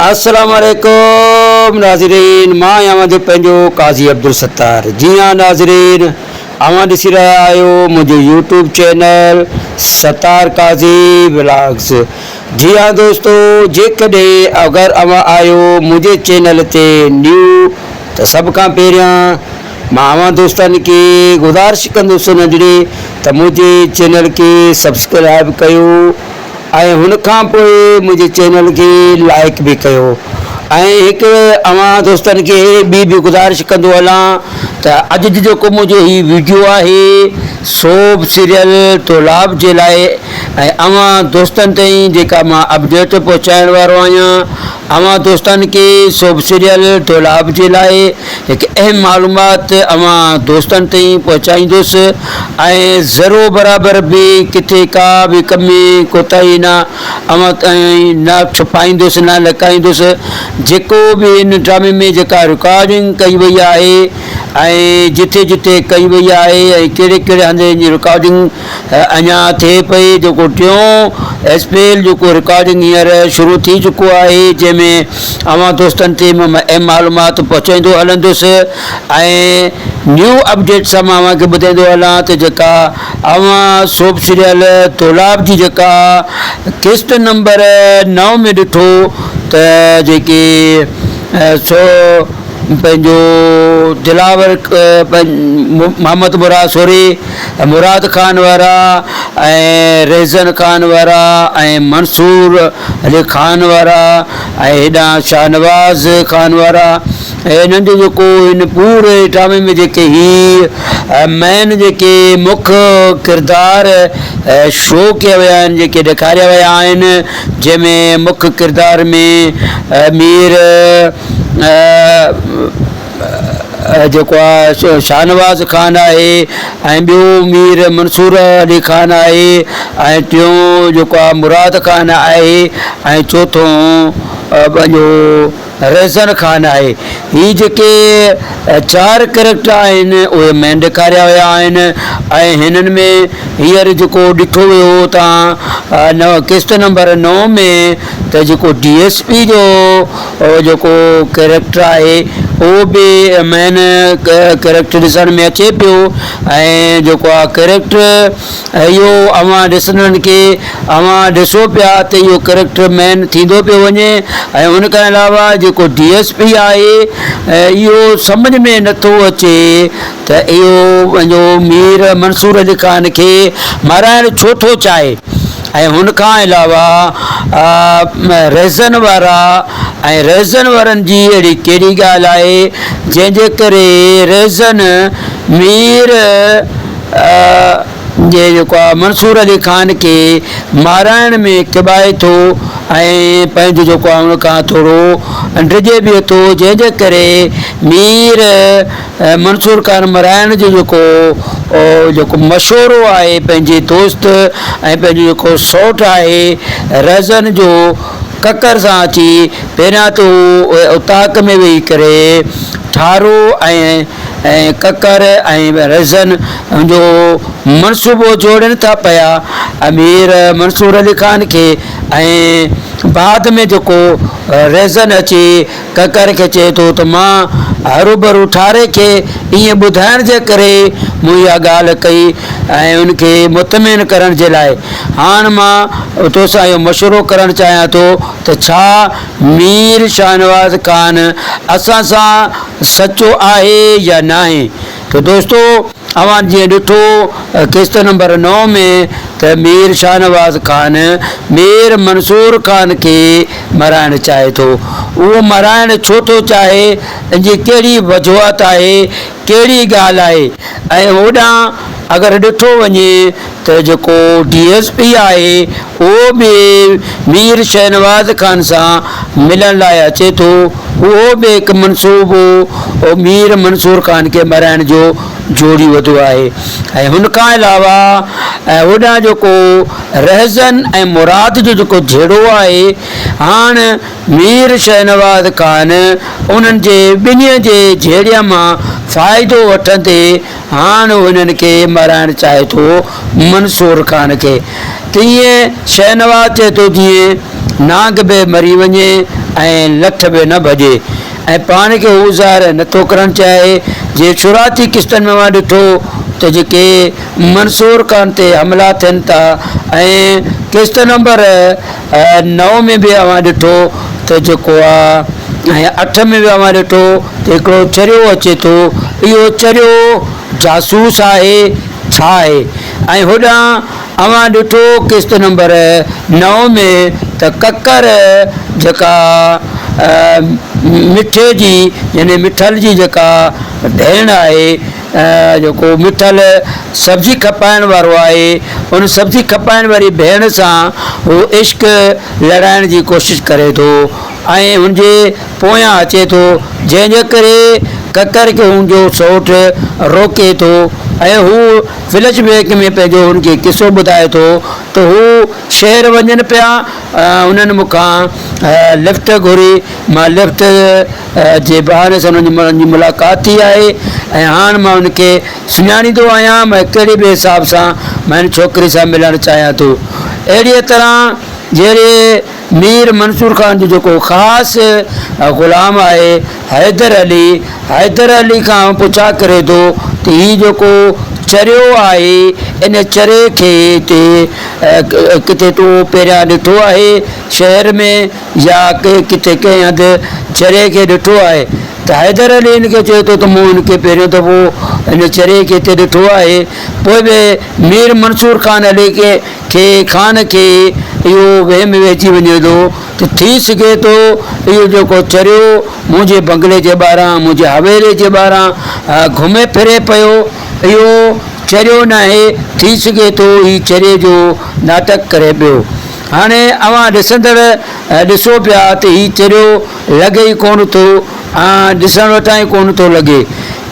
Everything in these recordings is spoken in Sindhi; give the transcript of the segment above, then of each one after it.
السلام عليڪم ناظرين مان آهيان اوهان جو پنهنجو قاضي عبدالستار جي ها ناظرين اوهان ڏسي رهيا آهيو منهنجو YouTube channel Sattar Qazi vlogs جي ها دوستو جيڪڏهن اگر اوهان آهيو منهنجي چينل تي نيو ته سڀ کان پهريان مان اوهان دوستن کي گذارش ڪندس ننڍڙي ته منهنجي چينل کي سبسڪرائب ڪيو ۽ هن کان پوء منهنجي چينل کي لائڪ به ڪيو ۽ هڪ اوهان دوستن کي ٻي به گذارش ڪندو هلان ته اڄ جو جيڪو منهنجو هي ويڊيو آهي سوب سيريل طلاب جي لاء ۽ اوهان دوستن تائين جيڪا مان اپڊيٽ پهچائڻ وارو آهيان اوهان دوستن کي سوب سيريل طلاب جي لاء هڪ اهم معلومات اوهان دوستن تائين پهچائيندس ۽ ذرو برابر به ڪٿي ڪا به ڪمي ڪوتاهي نه اوهان تائين نه ڇپائيندس نه لڪائيندس جيڪو به هن ڊرامي ۾ جيڪا رڪارڊنگ ڪئي وئي آهي ۽ جتي جتي ڪئي وئي آهي ۽ ڪهڙي ڪهڙي هنڌ هن جي رڪارڊنگ اڃا ٿئي پئي جيڪو ٽيون ايس پي ايل جو ڪو رڪارڊنگ هينئر شروع ٿي چڪو آهي جنهن ۾ اوهان دوستن تي م ايم معلومات پهچائيندو هلندس ۽ نيو اپڊيٽ سان مان اوهان کي ٻڌائيندو هلان ته جيڪا اوهان سوپ سيريل دولاب جي جيڪا قسط نمبر نو ۾ ڏٺو ته جيڪي سو پنهنجو دلاور محمد مراد سوري، مراد خان وارا ۽ رهزن خان وارا ۽ منصور علي خان وارا ۽ هيڏانهن شاهنواز خان وارا ۽ هنن جو جيڪو هن پوري ڊرامي ۾ جيڪي هي مين جيڪي مک ڪردار شو ڪيا ويا آهن جيڪي ڏيکاريا ويا آهن جنهن ۾ مک ڪردار ۾ مير جيڪو آ شاهنواز خان آهي ۽ ٻيو مير منصور علي خان آهي ۽ ٽيون جيڪو آ مراد خان آهي ۽ چوٿون پنهنجو ريزن خان آهي. هي جيڪي چار ڪريڪٽر آهن اهي مين ڏيکاريا ويا آهن ۽ هنن ۾ هينئر جيڪو ڏٺو ويو تان قسط نمبر نو ۾ ته جيڪو ڊي ايس پي جو جيڪو ڪريڪٽر آهي اهو به مين ڪريڪٽر ڏسڻ ۾ اچي پيو ۽ جيڪو آ ڪريڪٽر اهو اوهان ڏسندڙن کي اوهان ڏسو پيا ته اهو ڪريڪٽر مئن ٿيندو پيو وڃي ۽ ان کان علاوه جيڪو ڊي ايس پي آهي اهو سمجهه ۾ نٿو اچي ته اهو پنهنجو مير منصور علي خان کي مارائڻ ڇو ٿو چاهي ۽ ان کان علاوه رهزن وارا ۽ رهزن وارن جي اهڙي ڪهڙي ڳالهه آهي جنهن جي ڪري رهزن مير جي جيڪو آ منصور علي خان کي مارائڻ ۾ ڪٻائي ٿو ۽ پنهنجو جيڪو آ ان کان ٿورو ڊڄي به ٿو جنهن جي ڪري مير منصور خان مرائڻ جو جيڪو جيڪو مشورو آهي پنهنجي دوست ۽ پنهنجو جيڪو سوٽ آهي رهزن جو ڪڪر سان اچي پهريان ته هو اتاق ۾ ويهي ڪري ٺارو ۽ ۽ ڪڪر ۽ ريزن جو منصوبو جوڙين ٿا پيا امير منصور علي خان کي ۽ بعد ۾ جيڪو ريزن اچي ڪڪر کي چئي ٿو ته مان هروڀرو ٺاري کي ائين ٻڌائڻ جي ڪري مون اها ڳالهه ڪئي ۽ ان کي مطمئن ڪرڻ جي لاء هاڻ مان توسان اهو مشورو ڪرڻ چاهيان ٿو ته ڇا مير شاهنواز خان اسان سان سچو آهي يا ناهي ته دوستو اوهان جيئن ڏٺو قسط نمبر نو ۾ ته مير شاهنواز خان مير منصور خان کي مرائڻ چاهي ٿو اهو مرائڻ ڇو ٿو چاهي ان جي ڪهڙي وجوهات آهي ڪهڙي ڳالهه آهي ۽ هوڏانهن اگر ڏٺو وڃي ته جيڪو ڊي ايس پي آهي اهو به مير شهنواز خان سان ملڻ لاء اچي ٿو اهو به هڪ منصوبو مير منصور خان کي مرائڻ جو جوڙي وڌو آهي ۽ هن کان علاوه هوڏانهن جيڪو رهزن ۽ مراد جو جيڪو جهيڙو آهي هاڻ مير شهنواز خان انهن جي ٻنهي جي جهيڙي مان فائدو وٺندي هاڻ انهن کي مرائڻ چاهي ٿو منصور خان کي تيئن شهنواز چئي ٿو جيئن نانگ به مري وڃي ۽ لٺ به نه ڀڄي ۽ پاڻ کي هو ظاهر نه ٿو ڪرڻ چاهي جيئن شروعاتي قسطن ۾ اوهان ڏٺو ته جيڪي منصور خان تي حملا ٿين ٿا ۽ قسط نمبر نو ۾ به اوهان ڏٺو ته جيڪو آ ۽ اٺ ۾ به اوهان ڏٺو ته هڪڙو چريو اچي ٿو اهو چريو جاسوس آهي ڇا آهي ۽ هوڏانهن اوهان ڏٺو قسط نمبر نو ۾ ته ڪڪر جيڪا مٺي جي يعني مٺل جي جيڪا ڀيڻ آهي جيڪو مٺل سبزي کپائڻ وارو آهي، ان سبزي کپائڻ واري ڀيڻ سان هو عشق لڙائڻ جي ڪوشش ڪري ٿو ۽ هن جي پويان اچي ٿو، جنهن جي ڪري ڪڪر کي هن جو سئوٽ روڪي ٿو ۽ هو فلش بيڪ ۾ پنهنجو هن کي قصو ٻڌائي ٿو ته هو شهر وڃن پيا، هنن مون کان لفٽ گهري، مان لفٽ جي بهاني سان انهن ماڻهن جي ملاقات ٿي آهي ۽ هاڻ مان هن کي سڃاڻيندو آهيان ۽ ڪهڙي به حساب سان مان هن ڇوڪري سان ملڻ چاهيان ٿو. اهڙيء طرح جهڙي مير منصور خان جو جيڪو خاص غلام آهي حيدر علي، حيدر علي کان پڇا ڪري ٿو ته هي جيڪو چريو آهي، ان چري کي هتي ڪٿي تو پهريان ڏٺو آهي شهر ۾؟ يا ڪنهن ڪٿي ڪنهن هنڌ چري کي ڏٺو آهي ته حيدر علي هن کي چئي ٿو ته مون هن کي پهريون دفعو هن چري کي هتي ڏٺو آهي. پوء به مير منصور خان علي کي خان کي اهو وهم وهجي وڃي ٿو ته ٿي سگهي ٿو اهو جيڪو چريو منهنجي بنگلي جي ٻاهران منهنجي حويلي جي ٻاهران گهمي ڦري پيو اهو چريو ناهي ٿي سگهي ٿو هي چري جو ناٽڪ ڪري پيو. هاڻي اوهان ڏسندڙ ڏسو پيا ته هي چريو لڳي ئي ڪونه ٿو ۽ ڏسڻ وٽان ئي ڪونه ٿو لڳي.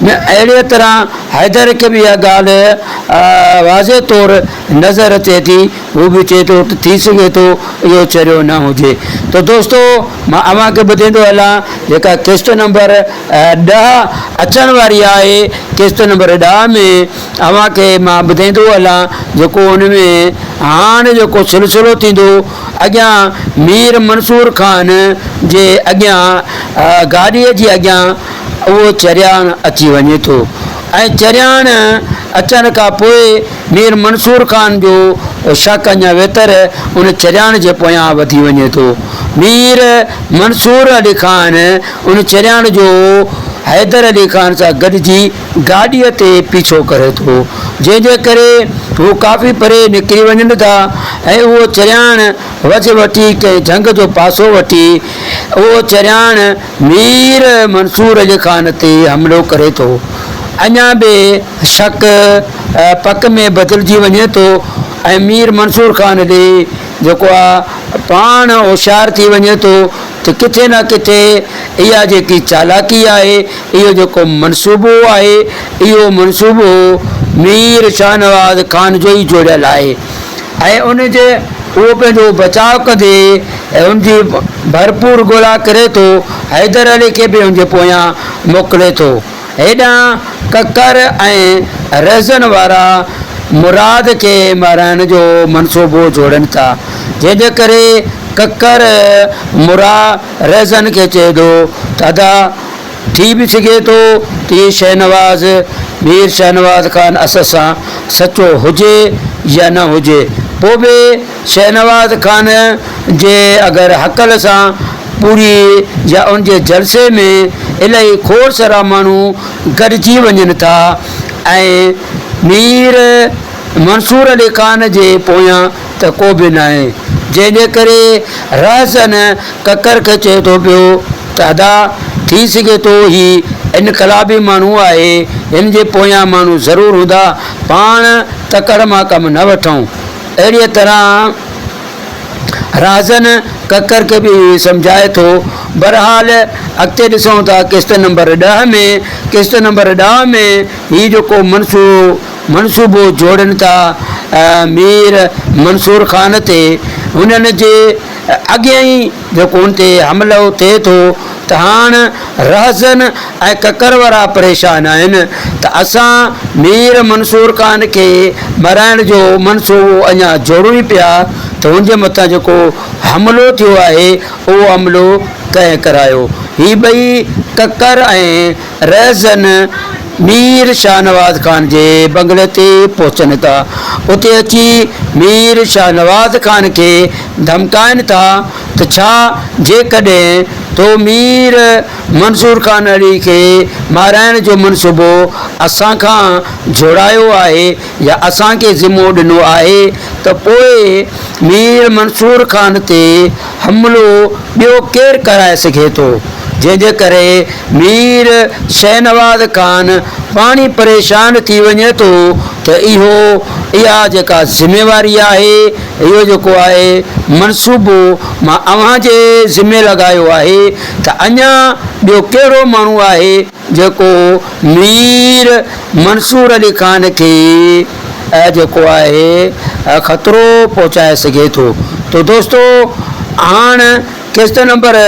اهڙيء طرح حيدر کي به اها ڳالهه واضح طور نظر اچي ٿي، هو به چئي ٿو ته ٿي سگهي ٿو اهو چريو نه هجي. ته دوستو مان اوهان کي ٻڌيندو هلان جيڪا قسط نمبر ڏهه اچڻ واري آهي، قسط نمبر ڏهه ۾ اوهان کي مان ٻڌائيندو هلان جيڪو ان ۾ هاڻ جيڪو سلسلو ٿيندو اڳيان مير منصور خان جي اڳيان گاڏيء جي اڳيان اهو چرياڻ اچي وڃي ٿو ۽ چرياڻ اچڻ کان پوء مير منصور خان جو شڪ اڃا ويتر ان چرياڻ جي پويان وڌي وڃي ٿو مير منصور علي خان ان چرياڻ جو حيدر علي خان سان گڏجي گاڏيء تي پيڇو ڪري ٿو، جنهن جي ڪري هو ڪافي پري نڪري وڃن ٿا ۽ اهو چرياڻ وجهه وٺي ڪنهن جهنگ جو پاسو وٺي، اهو چرياڻ مير منصور علي خان تي حملو ڪري ٿو. اڃا به شڪ پڪ ۾ بدلجي وڃي ٿو ۽ مير منصور خان علي جيڪو آ پاڻ هوشيار ٿي وڃي ٿو ته ڪٿي نه ڪٿي اها جيڪي چالاڪي آهي، اهو جيڪو منصوبو آهي، اهو منصوبو مير شاهنواز خان جو ئي جوڙيل آهي ۽ ان جي اهو پنهنجو بچاء ڪندي ۽ ان جي ڀرپور ڳولا ڪري ٿو، حيدر علي کي به ان جي پويان موڪلي ٿو. هيڏانهن ڪڪر ۽ رهزن وارا مراد کي مارائڻ جو منصوبو جوڙين ٿا، جنهن جي ڪري ڪڪر مراد رهزن کي چئي ٿو ته ادا! ٿي به سگهي ٿو ته هي شهنواز مير شهنواز خان اسد سان سچو هجي يا نه هجي، پوء به شهنواز خان جي اگر هڪل سان پوري يا ان جي جلسي ۾ الائي کوڙ سرا ماڻهو گڏجي وڃن ٿا ۽ مير منصور علي خان جي پويان ته ڪو به ناهي، جنهن جي ڪري رهزن ڪڪر کي چئي ٿو پيو ته ادا ٿي سگهي ٿو هي انقلابي ماڻهو آهي، هن جي پويان ماڻهو ضرور هوندا، پاڻ تڪڙ مان ڪم نه وٺون. اهڙيء طرح رهزن ڪڪر کي به اهو ئي سمجهائي ٿو. بهرحال اڳتي ڏسون ٿا قسط نمبر ڏهه ۾ قسط نمبر ڏهه ۾ هي جيڪو منصوبو منصوبو جوڙين ٿا مير منصور خان تي هنن جي اڳين ئي جو ڪون تي حملو ٿئي ٿو ته هاڻ رهزن ۽ ڪڪروارا پريشان آهن ته اسان مير منصور خان کي مرائڻ جو منصوبو اڃا جوڙون ئي پيا ته هن جي مٿان جيڪو حملو ٿيو آهي اهو حملو ڪنهن ڪرايو هي ٻئي ڪڪر ۽ رهزن مير شاهنواز خان جي بنگلي تي پهچن ٿا. اتي اچي مير شاهنواز خان کي ڌمڪائن ٿا ته ڇا جيڪڏهن تو مير منصور خان علي کي مارائڻ جو منصوبو اسان کان جوڙايو آهي يا اسان کي ذمو ڏنو آهي ته پوء مير منصور خان تي حملو ٻيو ڪير ڪرائي سگهي ٿو؟ جنهن جي ڪري مير شهنواز خان پاڻي پريشان ٿي وڃي ٿو ته اهو اها جيڪا ذميواري آهي، اهو جيڪو آهي منصوبو مان اوهان جي ذمي لڳايو آهي ته اڃا ٻيو ڪهڙو ماڻهو آهي، جيڪو مير منصور علي خان کي جيڪو آهي خطرو پهچائي سگهي ٿو تو دوستو هاڻ قسط نمبر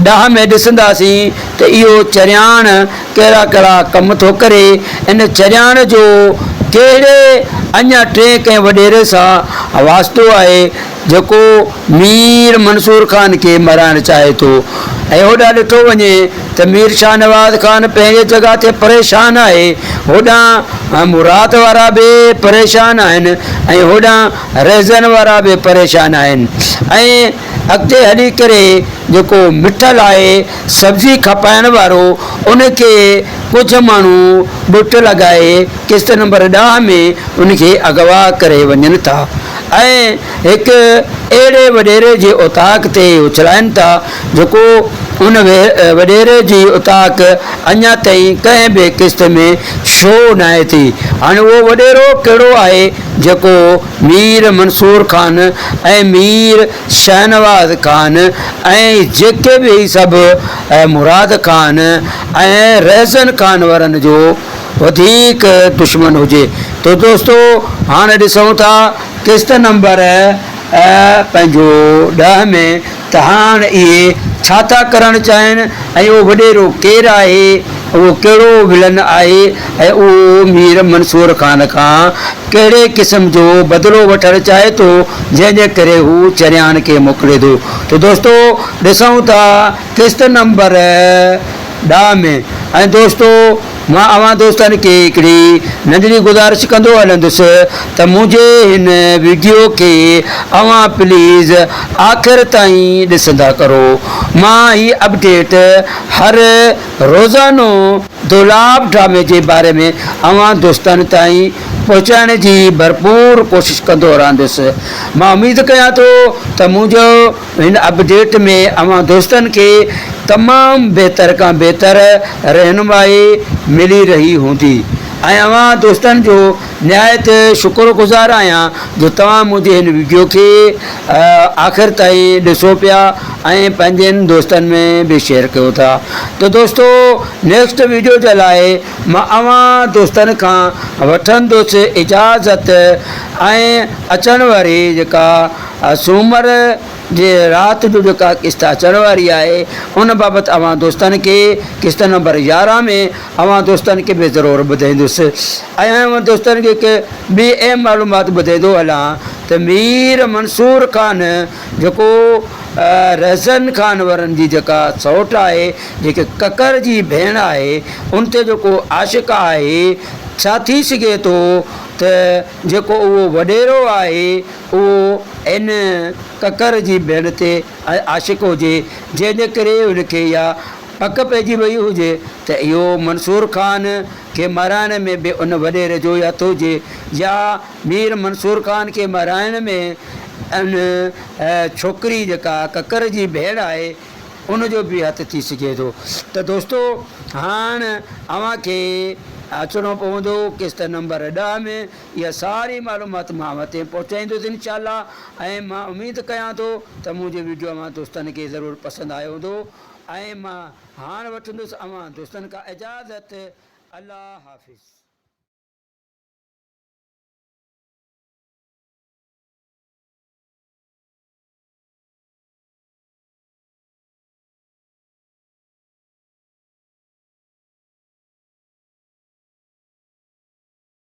ڏهه ۾ ڏسنداسين ته اهو چرياڻ ڪهڙا ڪهڙا ڪم ٿو ڪري ان چرياڻ جو ڪهڙي اڃا ٽئين ڪنهن وڏيري سان واسطو آهي جيڪو مير منصور خان کي مرائڻ چاهي ٿو ۽ هوڏانهن ڏٺو وڃي ته مير شاهنواز خان پنهنجي جڳهه تي پريشان آهي، هوڏانهن مراد وارا به پريشان آهن ۽ هوڏانهن رهزن وارا به پريشان آهن ۽ اڳتي هلي ڪري جيڪو مٺل آهي سبزي کپائڻ وارو ان کي ڪجهه ماڻهو ٻٽ لڳائي قسط نمبر ڏهه ۾ ان کي اغوا ڪري وڃن ٿا. ۽ هڪ اهڙي وڏيري جي اوطاق تي اڇلائين ٿا، جيڪو ان وڏيري جي اوطاق اڃا تائين ڪنهن به قسط ۾ شو ناهي ٿي. هاڻي اهو وڏيرو ڪهڙو آهي، جيڪو مير منصور خان ۽ مير شهنواز خان ۽ جيڪي به هي سڀ مراد خان ۽ رهزن خان ورن جو وڌيڪ دشمن هجي ٿو دوستو هاڻ ڏسون ٿا قسط نمبر پنهنجو ڏهه ۾ ته هاڻ اهي ڇا ٿا ڪرڻ چاهين ۽ اهو وڏيرو ڪير آهي اهو ڪهڙو ولن آهي ۽ اهو مير منصور خان کان ڪهڙي قسم جو بدلو وٺڻ چاهي ٿو جنهن جي ڪري هو چريان کي موڪلي ٿو ته دوستو ڏسون ٿا قسط نمبر ڏهه ۾ ۽ دوستو مان اوهان دوستن کي هڪڙي ننڍڙي گذارش ڪندو هلندس ته منهنجي هن ويڊيو کي اوهان پليز آخر تائين ڏسندا ڪرو مان هي اپڊيٽ هر روزانو دولاب ڊرامي جي باري ۾ اوهان دوستن تائين پهچائڻ جي ڀرپور ڪوشش ڪندو رهندس مان اميد ڪيان ٿو ته منهنجو هن اپڊيٽ ۾ اوهان دوستن کي تمام بهتر کان بهتر رهنمائي ملي رهي هوندي ۽ اوهان دوستن جو نهايت شڪر گذار آهيان جو توهان منهنجي هن وڊيو کي آخر تائين ڏسو پيا ۽ پنهنجن دوستن ۾ به شيئر ڪيو ٿا ته دوستو نيڪسٽ وڊيو جي لاء مان اوهان دوستن کان وٺندس اجازت ۽ اچڻ واري جيڪا سومر جي رات جو جيڪا قسط اچڻ واري آهي ان بابت اوهان دوستن کي قسط نمبر يارهن ۾ اوهان دوستن کي به ضرور ٻڌائيندس ۽ اوهان دوستن کي هڪ ٻي اهم معلومات ٻڌائيندو هلان ته مير منصور خان جيڪو رهزن خان ورن جي جيڪا سئوٽ آهي جيڪي ڪڪر جي ڀيڻ آهي ان تي جيڪو عاشق آهي ڇا ٿي سگهي ٿو ته جيڪو اهو وڏيرو آهي اهو ان ڪڪر جي ڀيڻ تي عاشق هجي، جنهن جي ڪري هن کي اها پڪ پئجي ويئي هجي ته اهو منصور خان کي مارائڻ ۾ به ان وڏيري جو ئي هٿ هجي يا مير منصور خان کي مارائڻ ۾ ان ڇوڪري جيڪا ڪڪر جي ڀيڻ آهي ان جو به هٿ ٿي سگهي ٿو ته دوستو هاڻ اوهان کي اچڻو پوندو قسط نمبر ڏهه ۾. اها ساري معلومات مان اوهان تائين پهچائيندس انشاءالله ۽ مان اميد ڪيان ٿو ته منهنجو ويڊيو اوهان دوستن کي ضرور پسند آيو هوندو ۽ مان هاڻ وٺندس اوهان دوستن کان اجازت الله حافظ.